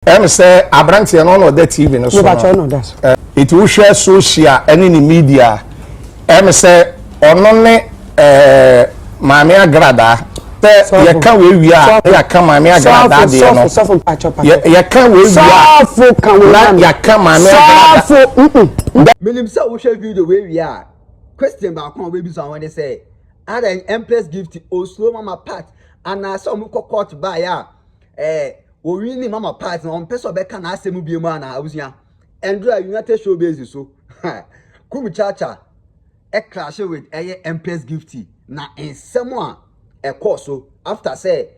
Ɛm sɛ abranteɛ no ɔna ɔda TV no so no. Eti wohwɛ social ɛne ne media a, ɛm sɛ ɔno ne Maame Agradaa. Sɛ yɛka wei wie a na yɛaka Maame Agradaa deɛ no. Yɛka wei wie a na yɛaka Maame Agradaa. Menim sɛ wohwɛ video wei wie a, question baako a wobɛbisa wo ho ne sɛ, Adɛn Empress Gift osuro Mama Pat anaasɛ wɔkɔ court baeɛ a Ɛɛ ɔnwi ne mama part no ɔmpɛ sɛ ɔbɛka n'asɛm mu biom anaa abusua? Ɛndra United Showbiz so Kuru Chacha crashe with ɛyɛ Empress Gifty na nsɛm a ɛkɔɔ so after sɛ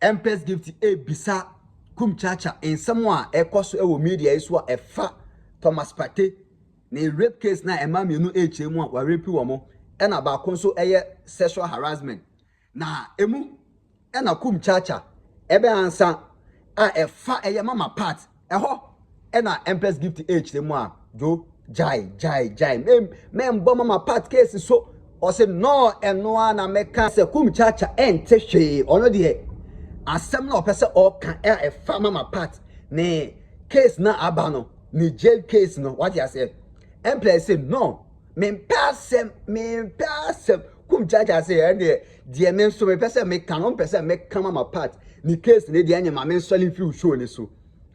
Empress Gifty ɛrebisa Kuru Chacha nsɛm a ɛkɔ so wɔ media yi so a ɛfa Thomas Partey ne rape case no a mmaa mmienu ɛrekyerɛ mu a wɔarape wɔn ɛna baako nso ɛyɛ sexual harassment Na emu na Kumchacha bɛ ansa a ɛfa ɛyɛ mama part ɛhɔ na Empress Gift ɛkyerɛ mu a Dwo gyae gyae gyae me me mbɔ mama part case so ɔse no ɛno a na mɛka sɛ Kumchacha ɛnte hwee ɔno deɛ asɛm na ɔpɛ sɛ ɔka a ɛfa mama part ne case na aba no ne jail case no wate aseɛ Empress se no Mempɛ asɛm, mempɛ asɛm. Kum Jaja se ɛdeɛ, deɛ me nso mepɛ sɛ meka no, mpɛ sɛ meka ma ma part ne case no deɛ ɛnyɛ ma me nsɔre mfiri wo show no so.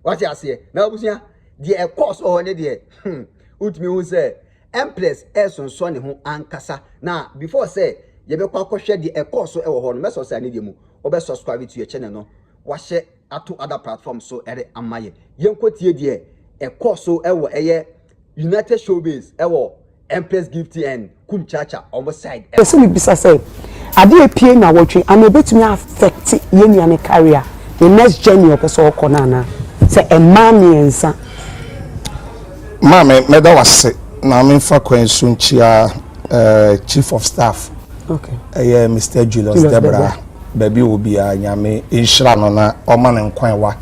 Wate aseɛ? Na abusua, deɛ ɛkɔɔ so wɔ hɔ no deɛ, hmm, wotumi hu sɛ Empress ɛresonsɔ ne ho ankasa. Na before sɛ yɛbɛkɔ akɔhwɛ deɛ ɛkɔɔ so wɔ hɔ no, mɛsɔ sɛ anedeɛ mu wobɛ subscribe to yɛ channel no, wahyɛ. ato ada platform so de ama yɛn. Yɛnkɔtie deɛ ɛkɔɔ so wɔ ɛyɛ United Showbiz wɔ Empress Gifty and Kum Cha Cha wɔn side ɛhɔ. Pɛsɛ mebisa sɛ adeɛ a ɛpue nawɔtwe anaa ɛbɛtumi a affect yɛn nua no carrier ne next journey a ɔpɛsɛ ɔkɔ no anaa sɛ mmaa mmiɛnsa. Maame mɛda wase na memfa kwan yi so nkyia Chief of Staff ɛyɛ Mister Julius Debrah. baabi wɔ biara nyame nhyira no na ɔma no nkwa ɛwa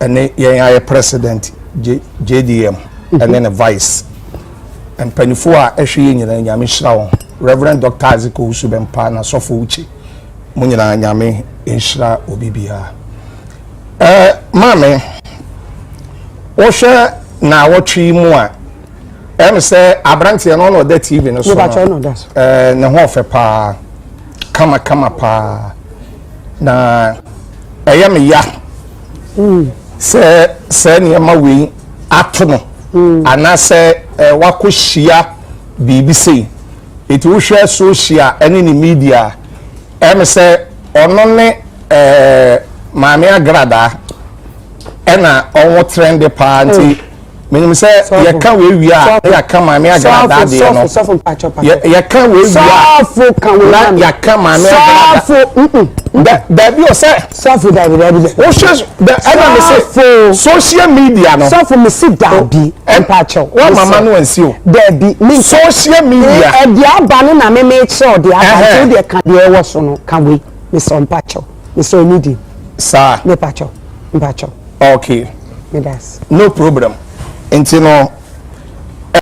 ɛne yɛn ayɛ president jdm mm-hmm. ɛne ne vice mpanyinfoɔ a ɛhwɛ yɛ nyinaa nyame nhyira wɔn reverend dr isaac owusu bɛmpa na sɔfo wuchi mo nyinaa nyame nhyira obi biara ɛɛ maame wɔhwɛ na awɔtwe mu a ɛm sɛ aberanteɛ no ɔna ɔda tv no so no eh, ne ho ɔfɛ paa kama kama paa na ɛyɛ me ya mm. sɛ sɛ nneɛma wei ato no mm. anaasɛ eh, wakɔ hyia biribi sei ɛti wohwɛ social ɛne ne media ɛm sɛ ɔno ne eh, maame agradaa ɛna ɔwɔ trɛnde paa nti mm. menim sɛ yɛka wei wie a na yɛaka maame agradaa deɛ no yɛka wei wie a na yɛaka maame agradaa daabi o sɛ wohwɛ ɛna me se social media no sɔfo me se daabi mpakyɛw woamama no ansi o daabi me social media ɛde aba no na me mekyerɛ ɔde aba nti wodeɛ ka deɛ ɛwɔ so no ka wei mesɛ mpakyɛw Mesɛ ne din. Saa. Me pakyɛw. Mpakyɛw. Okay. Me das. No problem. Nti no,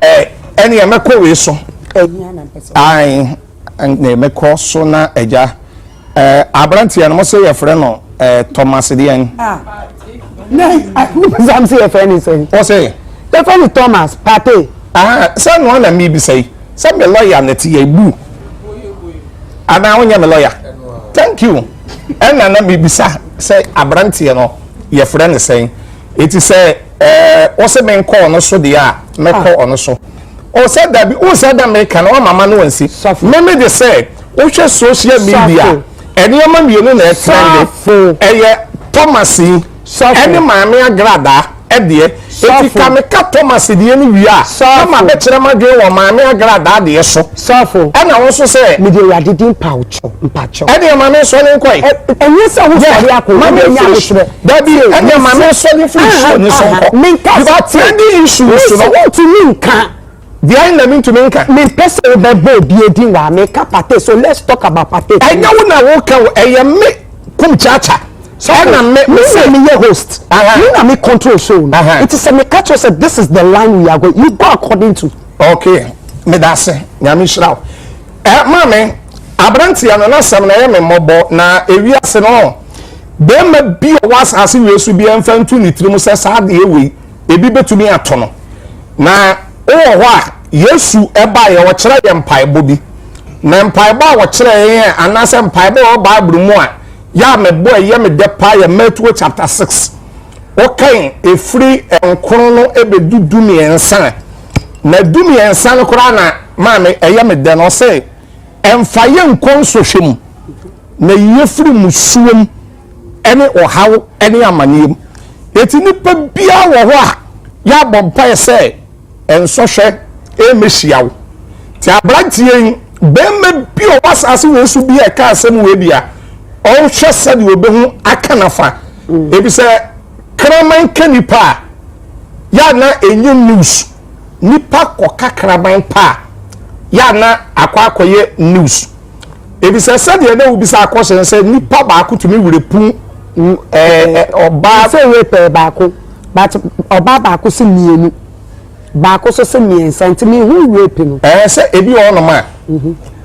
eh, ɛne yɛ mɛkɔ wei so. Ɛhia na mpɛ sɛ. Ae, ne mɛkɔ so na agya. Eh, aberanteɛ no mo sɛ yɛfrɛ no eh, Thomas deɛn. Ah. sam sɛ yɛfrɛ ne sɛ ɔsɛ yɛfrɛ ne thomas pate ah, sɛ noa na mebisa yi sɛ me lɔya no te yɛbu anaa wonyɛ me lɔya thank you ɛna na mebisa sɛ aberanteɛ no yɛfrɛ ne sɛn ɛti sɛ wosɛ menkɔ ɔno so deɛ a mɛkɔ ah. ɔno so ɔsɛ dabi wosɛ da meka no wamama no wansi meme de sɛ wohwɛ social media Nneɛma mmienu na ɛtɛn de, ɛyɛ Thomas yi ɛne Maame Agradaa deɛ, enti ka me ka Thomas deɛ no wie a na ma bɛ kyerɛ m'adwene wɔ Maame Agradaa deɛ so. Saafo. Ɛna wo nso sɛ. Mede Awurade din mpawokyɛw, mpakyɛw. Ɛdeɛ ma me sɔre nkɔ yi. Ɛnyɛ sɛ wo sɔre akɔ, wo bɛ nya ahokyerɛ. Dabi, ɛdeɛ ma me sɔre firi show ne so nkɔ. Menkasa te. Because trending issues no. Wo ntumi nka. Deɛn na mentumi nka? Mempɛ sɛ wobɛbɔ obia din wa meka pate so let's talk about pate please. Ɛnyɛ wo na woka o ɛyɛ me kum kyaakya ɛna me me sɛ. Me na meyɛ host me na me control show no nti sɛ meka kyerɛ sɛ this is the line we are going you go according to. Okay medase nyame nhyira wo. Eh maame abranteɛ no n'asɛm na ɛyɛ me mmɔbɔ na ewiase no bɛrima bi a ɔwɔ asase wei so biara mfa ntu ne tirim sɛ saa adeɛ wei. ebi betumi ato no na wowɔ hɔ a yesu ɛbaeɛ ɔkyerɛ yɛ mpaebɔ bi na mpaebɔ a wɔkyerɛ yɛn anaasɛ mpaebɔ wɔ bible mu a yɛ a mebɔ ɛyɛ me dɛ paa yɛ matthew chapter 6 wokan ɛfiri nkron no ɛbɛdu du mmiɛnsa na du mmiɛnsa no koraa na maame ɛyɛ me dɛ no ɔsɛ ɛmfa yɛ nkɔ nsɔhwɛ mu na yɛfiri musuom ne ɔhaw ne amaneɛ mu. Enti nnipa biara wɔ hɔ a yɛabɔ mpaeɛ sɛ nsɔhwɛ mmɛhyia wo. Te aberanteɛ yi, barima bi a ɔwɔ asase wei so bi a ɛka asɛm wei deɛ a, ɔrehwɛ sɛdeɛ ɔbɛhu aka nafa. Ebi sɛ kraman ka nipa a, yɛ a na ɛnyɛ news. Nipa kɔka kraman pa a, yɛ a na akɔ akɔyɛ news. Efisɛ sɛdeɛ Dawid bisaa kɔhyɛ no sɛ nipa baako tumi werɛ pu ɔbaa. Sɛ yɛ pɛɛ baako, but ɔbaa baako se mmienu, baako so se mmiɛnsa nti me hu werɛ pi no. Ɛɛ sɛ ebi wɔ hɔnom a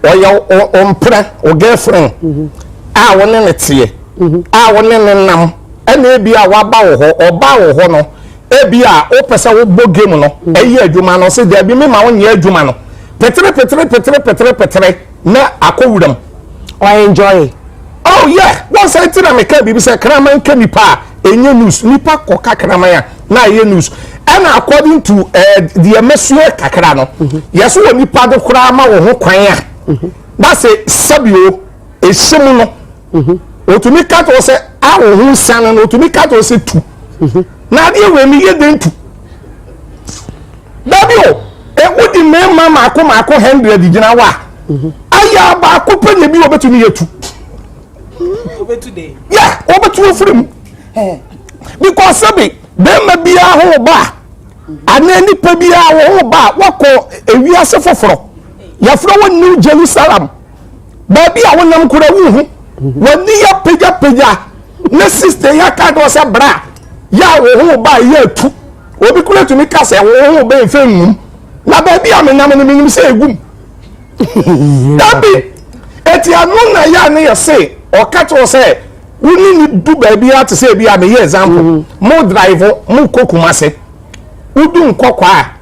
ɔyɛ ɔmpena o girlfriend a wo ne ne teɛ a wo ne ne nam ɛna ebi a waba wɔ hɔ ɔbaa wɔ hɔ no ebi a wopɛ sɛ wobɔ game no ɛyɛ adwuma no se daabi me ma wo nyɛ adwuma no petere petere petere petere petere. na akɔ wuram ɔ enjoy oh yeah wɔn sɛ ti na meka biribi sɛ kraman ka nipa a ɛnyɛ news nipa kɔ ka kraman a na ɛyɛ news ɛna according to ɛɛ eh, deɛ mɛsua kakra no mhm. yɛso wɔ nipa de koraa ma wɔ ho kwan a mhm. na sɛ sɛbi o ehyɛ mu no. mhm. otumi ka to sɛ a wɔn ho nsiane no otumi ka to sɛ tu mhm. na adeɛ wɔ ani yɛ den tu dabi o ewu di mmarima mako mako hundred gyina wa mhm. ayɛ abaako pɛ na ebi wɔ bɛtumi yɛ tu yɛ wɔbɛtu ofiri mu because sɛbi bɛrima biara ho ba anaa nipa biara ho ba wakɔ ewiase foforɔ yɛfrɛ wɔ new jerusalem. baabi a wonam kora wu ho wɔne yɛ pagyapagya ne sista yi aka dɔ sɛ bra yɛ a wo ho ba yɛ atu obi kora tumi ka sɛ wo ho bɛn fɛ nwum na baabi a menam no menim sɛ ɛgum dabi ɛti ano na yɛ a ne yɛ se ɔka kyerɛ sɛ wone ne du baabi a te sɛ bi a meyɛ example mm-hmm. mo drive mo kɔ kuma se wodu nkɔkɔ a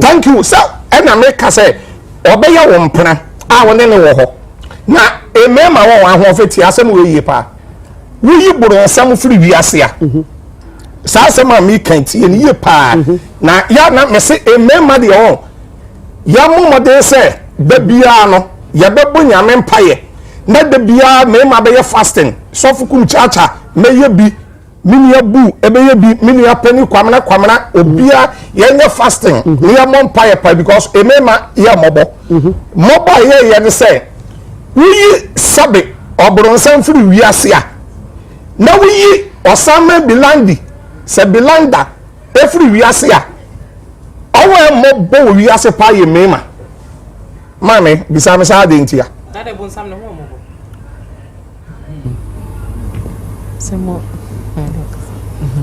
thank you sɛ ɛna meka sɛ ɔbɛyɛ wo mpena a wo ne ne wɔ hɔ na mmarima wɔ wɔn ahoɔfɛ tie asɛm wɔ yie paa woyi borɔnsam firi wiase a mhm. saa asɛm a meka tie no yie paa mhm. na yɛ na mese mmarima deɛ ɔ yɛmmɔ mmɔden sɛ da biara no yɛbɛbɔ nyame mpayɛ na da biara mmarima bɛyɛ fasting sɔfo kum kyaakya mɛyɛ bi me nua bu ɛbɛyɛ bi me nua panyin kwamina kwamina obia yɛnyɛ fasting mhm. ne yɛ mɔ mpa yɛ pa because emema yɛ mɔbɔ mhm. mɔbɔ a yɛ yɛ ne sɛ woyi sɛbe ɔbrɔnsɛn firi wiase a na woyi ɔsanmɛ bilandi sɛ bilanda efiri wiase a ɔwɔ yɛ mɔbɔ wɔ wiase pa yɛ mema maame bisamisa adi ntia.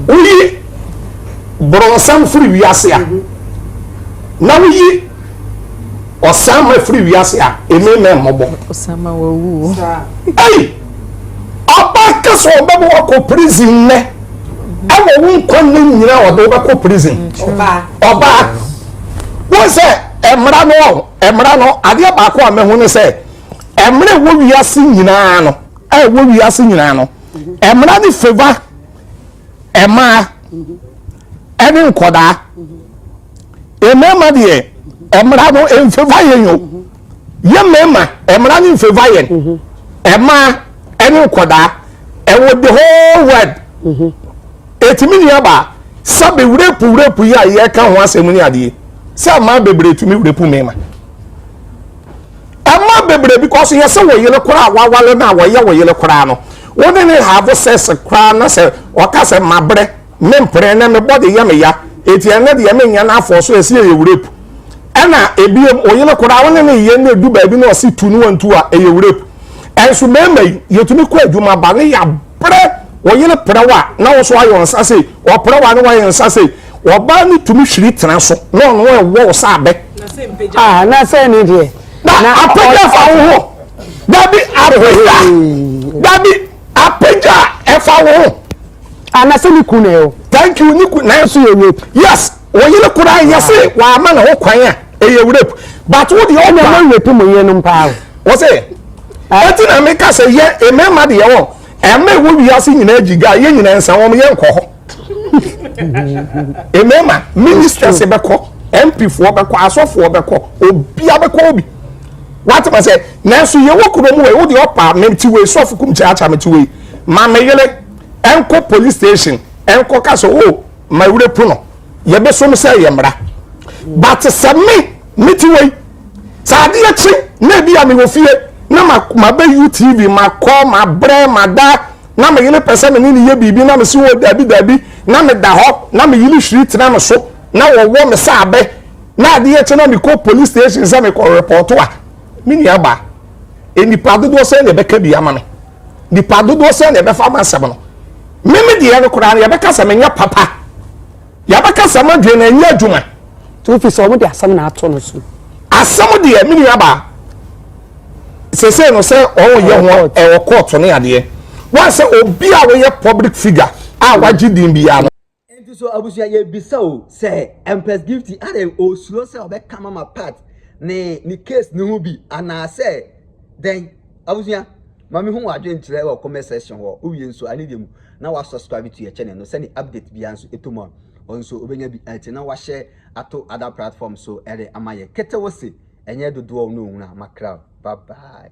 Woyi borɔnsam firi wiase a, na woyi ɔsanma firi wiase a, eme na mmɔbɔ. Ɔsanma wawu o. Ei! Ɔbaa ka sɛ ɔbɛbɔ wakɔ prison nnɛ. Ɛwɔ wo nkwa nna nyina ɔde wobɛkɔ prison. Ɔbaa. Wo sɛ mmara no ɔho, mmara no adeɛ baako a mɛho ne sɛ Ɛmmerɛ ɛwɔ wiase nyinaa no, ɛwɔ wiase nyinaa no, ɛmmra ne favor ɛmaa ɛne nkɔdaa. Mmarima deɛ ɛmmra no mfeva yɛn yo. Yɛ mmarima ɛmmra ne mfeva yɛn ɛmaa ɛne nkɔdaa. Ɛwɔ the whole world. Ɛtumi ni aba sɛ bewurepu wurepu yi a yɛka ho asɛm ne adeɛ sɛ mmaa bebree tumi wurepu mmarima. Mmaa bebree because yɛ sɛ wɔ yere koraa a wawale no a wɔyɛ wɔ yere koraa no wo ne ne have sex koraa na sɛ ɔka sɛ mabrɛ me mpere na me body yɛ me ya eti ɛnɛ deɛ me nyɛ no afɔ so ɛsi ɛyɛ rape ɛna ebiem wo yere koraa wo ne ne yɛ no edu baabi na ɔsi tu no wɔntu a ɛyɛ rape ɛnso mmarima yi yɛtumi kɔ adwuma ba ne yɛ Pere wo yere prɛw a na wo nso ayɛ wo nsa sei, ɔprɛw a na wayɛ nsa sei. Ɔbaa no tumi hwiri tena so na ɔno ɛwɔ wo sɛ abɛ. Ah, na sɛ ne deɛ. Na apagya fa wo ho. Dabi apagya. Dabi apagya ɛfa wo ho. Ah, na sɛ ne kun ɛ o. Thank you, ne kun na nso yɛ rape. Yes, wo yere kura yɛ se wama ne ho kwan a ɛyɛ rape. But wo deɛ ɔba. Ɛna mo rape mo yere no mpaa o. Wɔ se. Ɛno nti na meka sɛ yɛ mmarima deɛ wɔ ɛma ɛwɔ wiase nyinaa gyi ga yɛ nyinaa nsa wɔn yɛ nkɔ hɔ mmarima ministers bɛkɔ mpifoɔ bɛkɔ asɔfoɔ bɛkɔ obia bɛkɔ obi watema sɛ nanso yɛwɔ kuro mu wɔ ɛwo deɛ ɔpa mete wei sɔfo kum kyaakya mete wei ma me yere ɛnkɔ police station ɛnkɔ ka sɛ o oh, ma wura pu no yɛbɛsom sɛ yɛ mmara but sɛ me mete wei Sɛ adeɛ kye na ebi a mewɔ fie na mabɛ UTV makɔ mabrɛ mada na me yere pɛ sɛ me ne ne yɛ biribi na mese wɔ daabi daabi na meda hɔ na me yere hwiri tena me so na wɔwɔ me sɛ abɛ na adeɛ kye na mekɔ police station sɛ mekɔ repɔto a me nua baa nnipa dodoɔ sɛ na ɛbɛka bi ama me nnipa dodoɔ sɛ na ɛbɛfa ama asɛm no meme deɛ no koraa no yɛbɛka sɛ menyɛ papa Yɛabɛkasa ma dwee na ɛnyɛ adwuma. To fi sɛ wɔn de asɛm na ato no so. Asɛm deɛ me nua baa. Sese no sɛ wɔn yɛ ho ɛwɔ court ne adeɛ. Wɔn sɛ obi a wɔyɛ public figure a wagye din biara no. Nti so abusua yɛbisa o sɛ Empress Gifty adɛn osuro sɛ ɔbɛka Mama Pat ne ne case no ho bi anaasɛ dɛn abusua. Ma mehu w'adwenkyerɛ wɔ comment section hɔ, wowie nso a ne deɛ mu na woasubscribe to yɛ channel no sɛdeɛ update biara nso ɛtɔ mu a wo nso wobɛnya bi atie na woahyɛ ato other platforms so de ama yɛn. Ketewose ɛnyɛ dodoɔ na ɔhunu a makra wo. Bye bye.